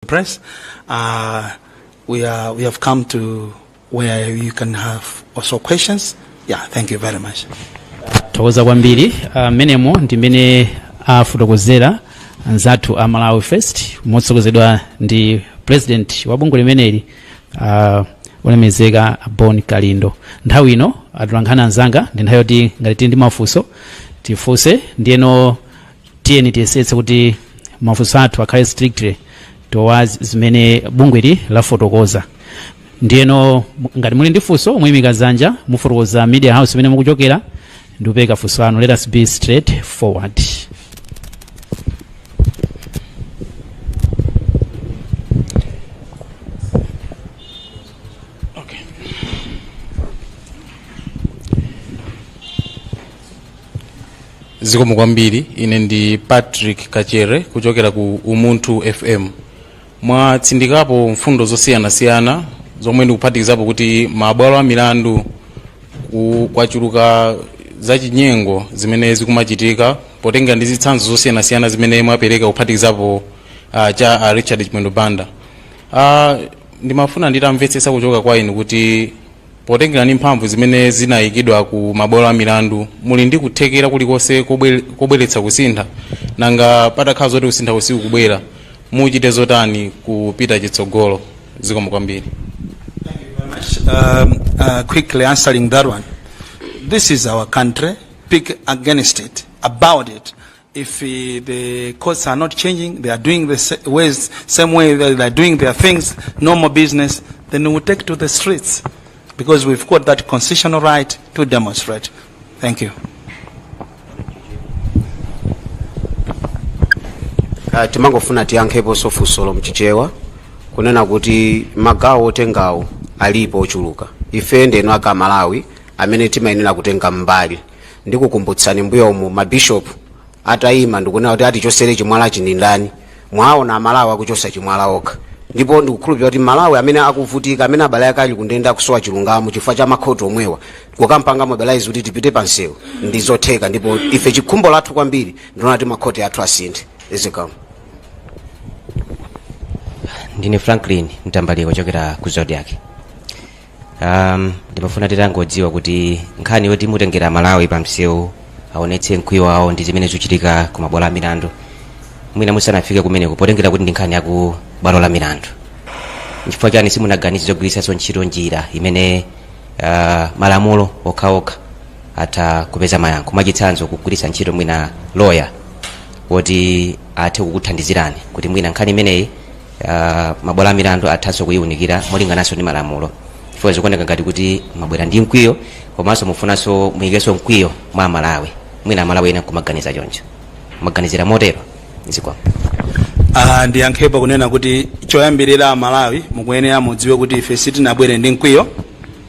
press. Uh, we are we have come to where you can have also questions. Yeah, thank you very much. tathokoza kwambiri mmenemo ndi mmene afotokozera anzathu a malawi first motsogozedwa ndi president wa bungwe limeneli uh, olemezeka bon kalindo nthawi ino atolankhani anzanga ndi nthawi yoti ngati tili ndi mafunso tifunse ndiyeno tiyeni tiyesetse kuti mafunso athu akhale strictly towards zimene bungweli lafotokoza ndiyeno mu- ngati muli ndi funso muyimika dzanja mufotokoza media house imene mukuchokera ndikupereka funso lanu let us be straight forward zikomo kwambiri ine ndi patrick kachere kuchokera ku umunthu fm mwatsindikapo mfundo zosiyanasiyana zomwe ndikuphatikizapo kuti mabwalo a milandu ku- kwachuluka zachinyengo zimene zikumachitika potenga ndi zitsanzo zosiyanasiyana zimene mwapereka kuphatikizapo uh, cha uh, richard chimwendo banda uh, ndimafuna nditamvetsetsa kuchoka kwa inu kuti potengera ndi mphamvu zimene zinayikidwa ku mabwalo a milandu muli ndi kuthekera kulikonse kobwe- kobweretsa kusintha nanga patakhala zoti kusintha sikukubwera muchite zotani kupita chitsogolo zikomo kwambiri um, uh, quickly answering that one. This is our country. Speak against it, about it, if eh, the courts are not changing, they are doing the sa- ways, same way they are doing their things, normal business, then we will take to the streets because we've got that constitutional right to demonstrate. Thank you. Ah, timangofuna tiyankheponso funsolo mchichewa kunena kuti magawo otengawo alipo ochuluka ife ndi inu amalawi amene timayenera kutenga mbali ndikukumbutsani mbuyo umu mabishop atayima ndikunena kuti atichosere chimwalachi ndindani mwaona amalawi akuchosa chimwala okha ndipo ndikukhulupirira kuti amalawi amene akuvutika amene abale ake ali kundende akusowa chilungamo chifukwa cha makhoti omwewa kuwapanga mobilize kuti tipite pansewu ndi zotheka ndipo ife chikhumbo lathu kwambiri ndikuona kuti makhoti athu asinthe zikomo ndine franklin mtambalika kuchokera ku zodiak um, ndimafuna titangodziwa kuti nkhani yoti mutengere amalawi pa msewu aonetse mkwiyo wawo ndi zimene zikuchitika ku mabwalo a milandu mwina musanafike kumeneko potengera kuti ndi nkhani ya ku bwalo la milandu nchifukwa chani simunaganize zogwiritsanso ntchito njira imene uh, malamulo okhaokha atha kupeza mayankho mwachitsanzo kugwiritsa ntchito mwina loya woti athe kukuthandizirani kuti mwina nkhani imeneyi ah, mabwalo a milandu athanso kuyiwunikira molingananso ndi malamulo chifukwa zikuoneka ngati kuti mwabwera ndi mkwiyo komanso mufunanso muyikenso mkwiyo mwa amalawi mwina amalawi ena kumaganiza choncho mwaganizira motero zikomo Ah, ndiyankhepo kunena kuti choyambirira amalawi mukuyenera mudziwe kuti ife sitinabwere ndi mkwiyo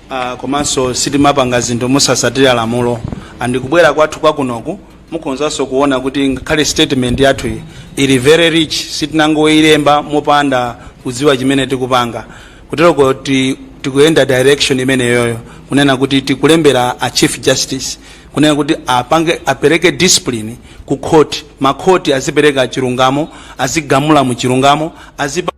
ah, komanso sitimapanga zinthu mosasatira lamulo andikubwera kwathu kwakunoku Mukhonzanso kuona kuti ngakhale statement yathuyi ili very rich, sitinangoilemba mopanda kudziwa chimene tikupanga. Kuteroko kuti, tikuyenda direction imeneyoyo kunena kuti tikulembera a Chief Justice kunena kuti apange apereke discipline ku court, ma court azipereka chilungamo, azigamula mu chilungamo, azipa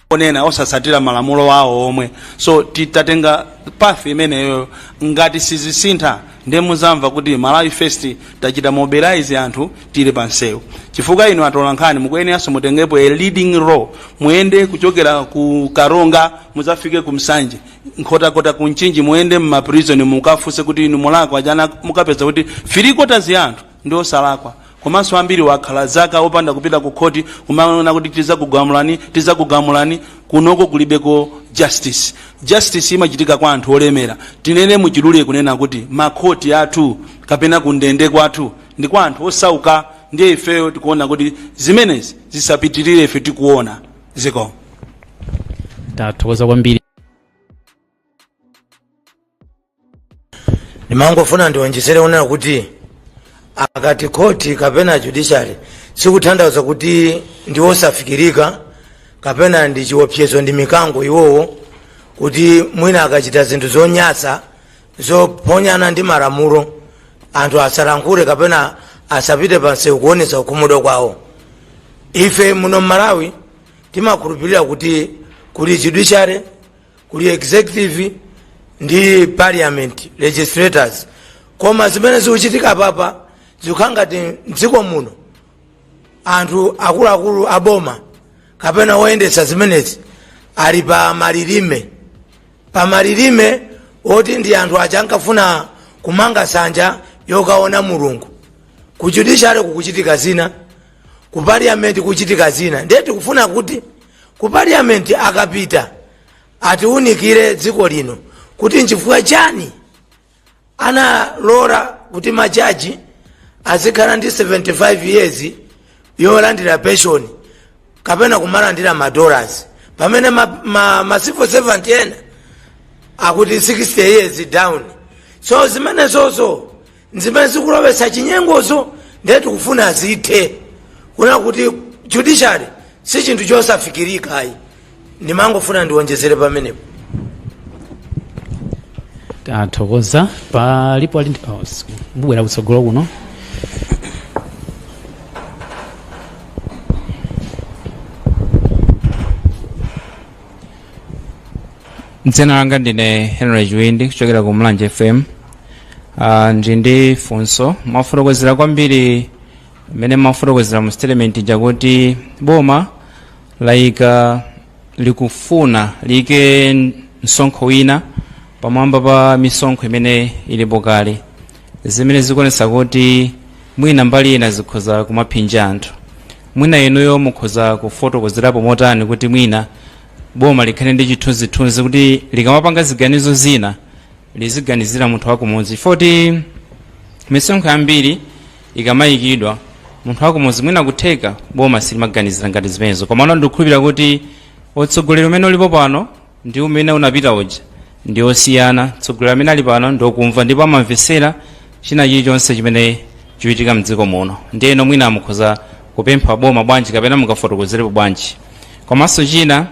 onena osatsatira malamulo awo omwewo so titatenga path imeneyo ngati sizisintha ndiye muzamva kuti malawi first tachita mobilize anthu tili pansewu chifukwa inu atolankhani mukuyeneranso mutengepo a leading role muyende kuchokera ku karonga muzafike ku nsanje nkhotakota ku mchinji muyende mmaprison mukafunse kuti inu munalakwa chani mukapeza kuti three quarters ya anthu ndi osalakwa komanso ambiri akhala zaka opanda kupita ku khoti kumanena kuti tizakugamulani tizakugamulani kunoko kulibeko justice justice imachitika kwa anthu olemera tinene muchidule kunena kuti makhoti athu kapena kundende kwathu ndi kwa anthu osauka ndiye ifeyo tikuona kuti zimenezi zisapitirire ife tikuona zikomo tathokoza kwambiri ndimangofuna ndionjezere kunena kuti akati khoti kapena judiciary sikutanthauza kuti ndi osafikirika kapena ndi chiopsezo ndi mikango iwowo kuti mwina akachita zinthu zonyasa zophwanyana ndi malamulo anthu asalankhule kapena asapite pansewu kuonesa kukhumudwa kwawo ife muno mmalawi timakhulupirira kuti kuli judiciary kuli executive ndi parliament legislators koma zimene zikuchitika apapa zikukhala ngati mdziko muno anthu akuluakulu a boma kapena oyendetsa zimenezi ali pa malilime pa malilime oti ndi anthu aja ankafuna kumanga nsanja yokaona mulungu ku judiciary kukuchitika zina ku parliament kuchitika zina ndiye tikufuna kuti ku parliament akapita atiunikire dziko lino kuti nchifukwa chani analola kuti majaji azikhala ndi 75 years yolandira pension kapena kumalandira ma dollars pamene ma, ma, ma civil servant ena akuti 60 years down so zimenezozo zimene zikulowetsa chinyengozo ndiye tikufuna zithe kuona kuti judiciary si chinthu chosafikirika ayi ndimangofuna ndiwonjezere pamenepo tathokoza palipo ali ndi- oh, s- mubwera kutsogolo kuno dzina langa ndine henry jwindi kuchokera ku mulanje fm uh, ndili ndi funso mwafotokozera kwambiri mmene mwafotokozera mu statement ija kuti boma laika likufuna liike msonkho wina pamwamba pa misonkho imene ilipo kale zimene zikuonesa kuti mwina mbali ina zikhoza kumaphinja anthu mwina inuyo mukhoza kufotokozerapo motani kuti mwina boma likhale ndi chithunzithunzi kuti likamapanga ziganizo zina liziganizira munthu wakumudzi poti misonkho yambiri ikamayikidwa munthu wakumudzi mwina kutheka boma silimaganizira ngati zimenezo komano ndikukhulupirira kuti utsogoleri umene ulipo pano ndi umene unapita uja ndi osiyana atsogoleri amene ali pano ndi okumva ndipo amamvetsera china chilichonse chimene chikuchitika mdziko muno ndiyeno mwina mukhoza kupempha boma bwanji kapena mungafotokozerepo bwanji komanso china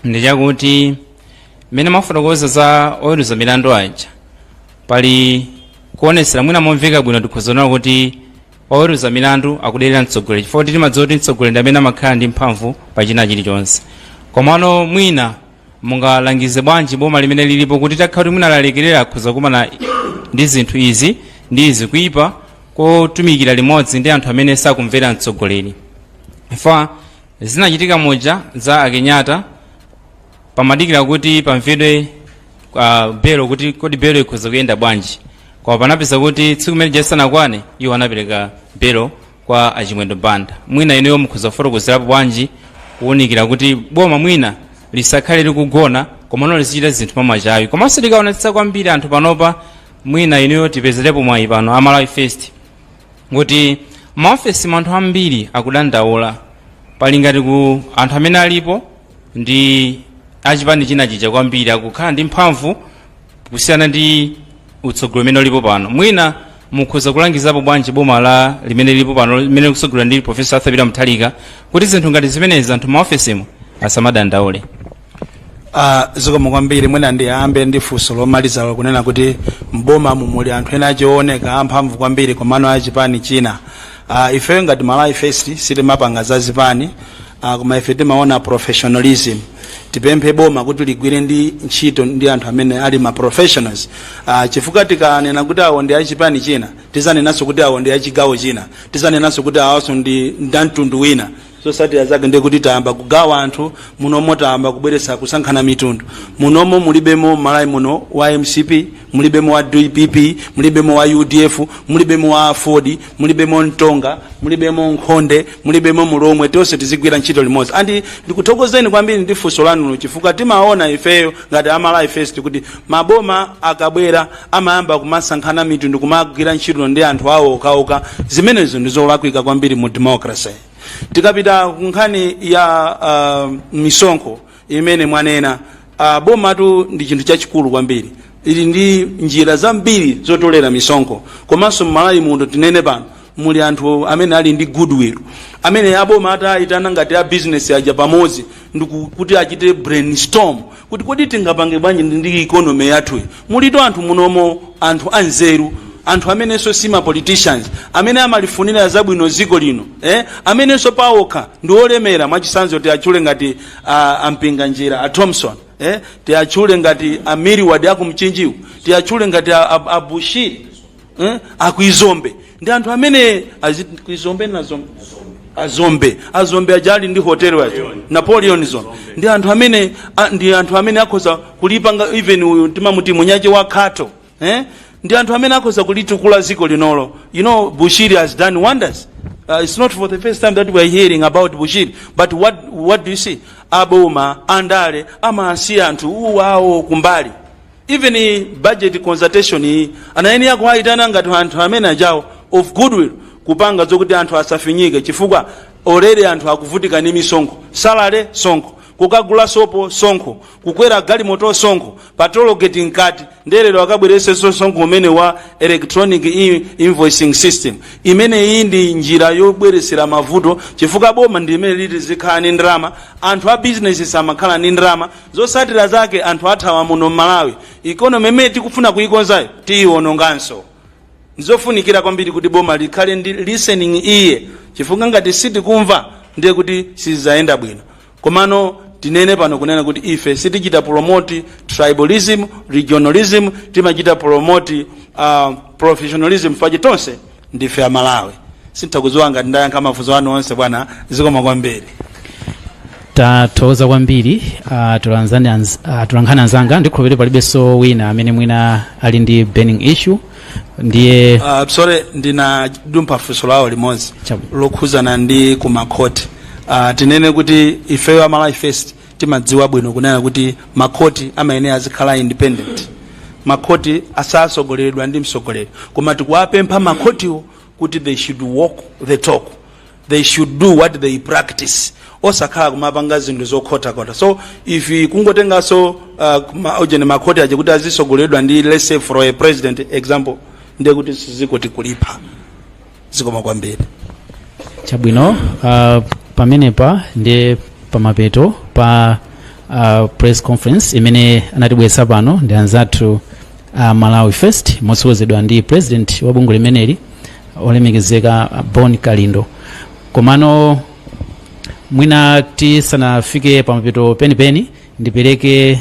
ndi chakuti mmene mafotokoza za oweruza milandu aja pali kuonetsera mwina momveka bwino tikhoza kuona kuti Oweruza milandu akuderera mtsogoleri chifukwa choti timadziwa kuti mtsogoleri ndi amene amakhala ndi mphamvu pa china chilichonse. Komano mwina mungalangize bwanji boma limene lilipo kuti litakhala kuti mwina lalekerera akhoza kukumana ndi zinthu izi ndi izi kuipa kotumikira limodzi ndi anthu amene sakumvera mtsogoleri. Chifukwa zinachitika muja za a Kenyatta pamadikira kuti pamvedwe uh, belo kuti kodi belo ikhoza kuyenda bwanji koma panapezeka kuti tsiku limene lija lisanakwane iwo anapereka belo kwa achimwendo banda mwina inuyo mukhoza kufotokozerapo bwanji kuunikira kuti boma mwina lisakhale likugona komano lizichita zinthu mwamachawi komanso mukaonetsetsa kwambiri anthu panopa mwina inuyo tipezerepo mwayi pano a malawi first kuti m'maofesi mwa anthu ambiri akudandaula pali ngati kuti anthu amene alipo ndi achipani china chija kwambiri akukhala ndi mphamvu kusiyana ndi utsogoleri umene ulipo pano mwina mukhoza kulangizapo bwanji boma la limene lilipo pano limene likutsogoleredwa ndi profesa arthur peter mutharika kuti zinthu ngati zimenezi anthu m'maofesimo asamadandaule Ah, zikomo kwambiri mwina ndiyambe ndi funso lomaliza lakunena kuti mboma mumuli anthu ena akuoneka amphamvu kwambiri komano achipani china Ah, ifeyo ngati malawi first sitimapanga za zipani Ah, koma ife timaona professionalism tipemphe boma kuti ligwire ndi ntchito ndi anthu amene ali ma professionals ah, chifukwa tikanena kuti awo ndi achipani china tizanenanso kuti awo ndi achigawo china tizanenanso kuti awonso ndi ndamtundu wina zosatira zake ndi kuti tayamba kugawa anthu munomo tayamba kubweretsa kusankhana mitundu munomo mulibemo mmalawi muno wa mcp mulibemo wa dpp mulibemo wa udf mulibemo wa aford mulibemo mtonga mulibemo nkhonde mulibemo mulomwe tonse tizigwira ntchito limodzi andi ndikuthokozeni kwambiri ndi funso lanulo chifukwa timaona ifeyo ngati amalawi first kuti maboma akabwera amayamba kumasankhana mitundu kumagwira ntchito ndi anthu awo okhaokha zimenezo ndi zolakwika kwambiri mu democracy tikapita ku nkhani ya uh, misonkho imene mwanena uh, bomatu ndi chinthu chachikulu kwambiri ili ndi njira zambiri zotolera misonkho komanso mmalawi muno tinene pano muli anthu amene ali ndi goodwill amene aboma atayitana ngati a business aja pamodzi ndikuti achite brainstorm kuti kodi tingapange bwanji ndi economy yathuyi mulitu anthu munomo anthu anzeru anthu amenenso si ma politicians amene amalifunira zabwino dziko lino eh? amenenso paokha ndi olemera mwachisanzo tiatchule ngati uh, a mpinganjira a thomson eh? tiatchule ngati amiriwadi akumchinjiwu tiatchule ngati a bushiri eh? akuti dzombe ndi anthu amene aziti kuti dzombe dzombe a dzombe a dzombe aja ali ndi hotel wa ujeni napoleon dzombe ndi anthu amene a, ndi anthu amene akhoza kulipanga even uyu timamuti mnyamata wa akhato eh? ndi anthu amene akhoza kulitukula ziko linolo you know bushiri has done wonders Uh, it's not for the first time that we are hearing about Bushiri, but what, what do you see? Aboma, andale, amasiya anthu awawa kumbali. Even budget consultation iyi anayenera kuwayitana ngati anthu amene ajawo of goodwill kupanga zokuti anthu asafinyike chifukwa already anthu akuvutika ndi misonkho salary msonkho kukagula sopo msonkho kukwera galimoto msonkho pa tollgate mkati ndelero akabweretsenso msonkho umene wa electronic in- invoicing system imene iyi ndi njira yobweretsera mavuto chifukwa boma ndi imene liti lizikhala ndi ndalama anthu a business asamakhale ndi ndalama Zotsatira zake anthu athawa muno mmalawi economy imene tikufuna kuikonzayo tiiwononganso. Ndizofunikira kwambiri kuti boma likhale ndi listening ear chifukwa ngati sitikumva ndiye kuti siziyenda bwino. Komano tinene pano kunena kuti ife sitichita promote tribalism, regionalism timachita promote uh, professionalism fache tonse ndife amalawi sindikudziwa ngati ndayankha mafunso anu onse bwana zikomo kwambiri tathokoza kwambiri ah, tulanzani anz- ah, tulankhani anzanga ndikhulupirira palibenso wina amene mwina ali ndi burning issue ndiye uh, sorry ndinadumpha funso lawo limodzi lokhuzana ndi kumakhoti uh, tinene kuti ifeyo a malawi first timadziwa bwino kunena kuti makhoti amayenera azikhala independent makhoti asatsogoleredwe ndi mtsogoleri koma tikuwapempha makhotiwo kuti they should walk the talk they should do what they practice osakhala kumapanga zinthu zokhotakhota so if kungotenganso uh, ma- ujeni makhoti aja kuti azitsogoleredwa ndi let's say for a president example ndiye kuti si dziko tikulipha zikomo kwambiri chabwino uh, pamenepa ndiye pamapeto pa uh, press conference imene anatibweretsa pano ndi anzathu a malawi first motsogozedwa ndi president wa bungwe limeneli olemekezeka uh, bon kalindo komano mwina tisanafike pamapeto penipeni ndipereke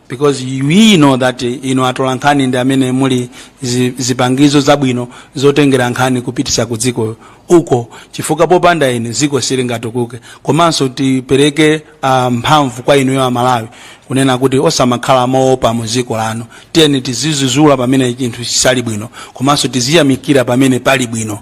because we know that inu atolankhani ndi amene muli zi- zipangizo zabwino zotengera nkhani kupitisa ku dziko uko chifukwa popanda inu dziko silingatukuke komanso tipereke uh, mphamvu kwa inuyo amalawi kunena kuti osamakhala moopa mu dziko lanu tiyeni tizizuzula pamene chinthu chisali bwino komanso tiziyamikira pamene pali bwino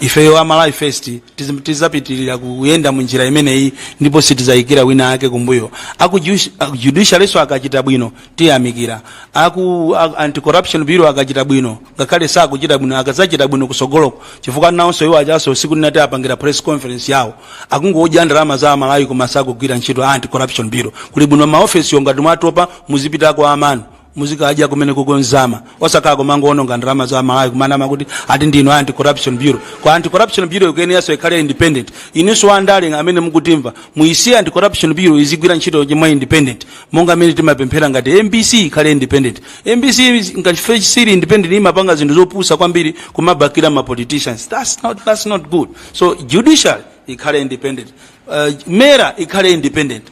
ifeyo a malawi first tiz- tizapitirira kuyenda mu njira imeneyi ndipo sitizayikira wina ake kumbuyo aku judici- aku judicialinso akachita bwino tiyamikira aku a- anti-corruption bureau akachita bwino ngakhale sakuchita bwino akazachita bwino kusogoloko chifukwa nawonso iwo ajanso usiku ninati apangira press conference yawo akungodya ndalama za amalawi koma sakugwira ntchito a anti-corruption bureau kuli bwino maofesiyo ngati mwatopa muzipitako kwanu muzikadya kumeneko nsima osakhala kumangoononga ndalama za amalawi kumanama kuti ati ndinu anti corruption bureau koma anti corruption bureau ikuyeneranso ikhale independent inunso andale amene mukutimva muisiye anti corruption bureau izigwira ntchito chonde independent monga amene timapempherera ngati mbc ikhale independent mbc ngati sili independent imapanga zinthu zopusa kwambiri kumabakila ma politicians that's not, that's not good so judicial ikhale independent uh, mera ikhale independent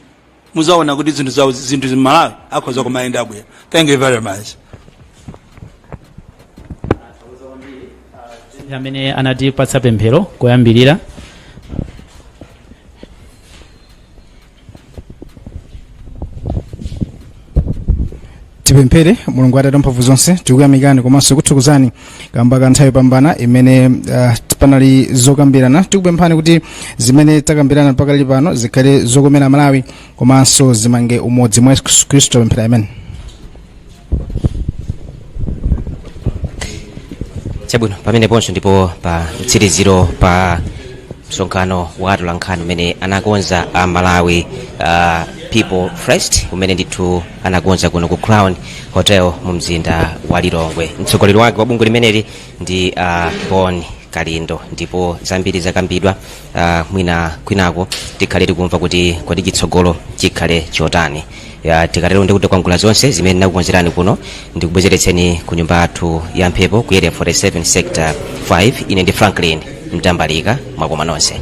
muzaona kuti zinthu zawo zinthu malawi akhoza kumayenda bwino thank you very much amene anatipatsa pemphero loyambirira tipemphere mulungu atate a mphamvu zonse tikuyamikani komanso kuthokozani kamba ka nthawi yopambana imene uh, panali zokambirana tikupemphani kuti zimene takambirana pakali pano zikhale zokomera malawi komanso zimange umodzi mwa yesu khristu tapemphera amen chabwino pamenepo ndiye ndi po pa mtsiriziro pa msonkhano wa atolankhani umene anakonza a malawi uh, people first umene ndithu anakonza kuno ku crown hotel mu mzinda wa lilongwe mtsogoleri wake wa bungwe limeneli ndi uh, bon kalindo ndipo zambiri zakambidwa uh, mwina kwinako tikhale tikumva kuti kodi chitsogolo chikhale chotani ya tikatero ndikutikwangula zonse zimene ndinakukonzerani kuno ndikubwezeretseni ku nyumba yathu ya mphepo ku area 47 sector 5 ine ndi franklin mtambalika mwakoma nonse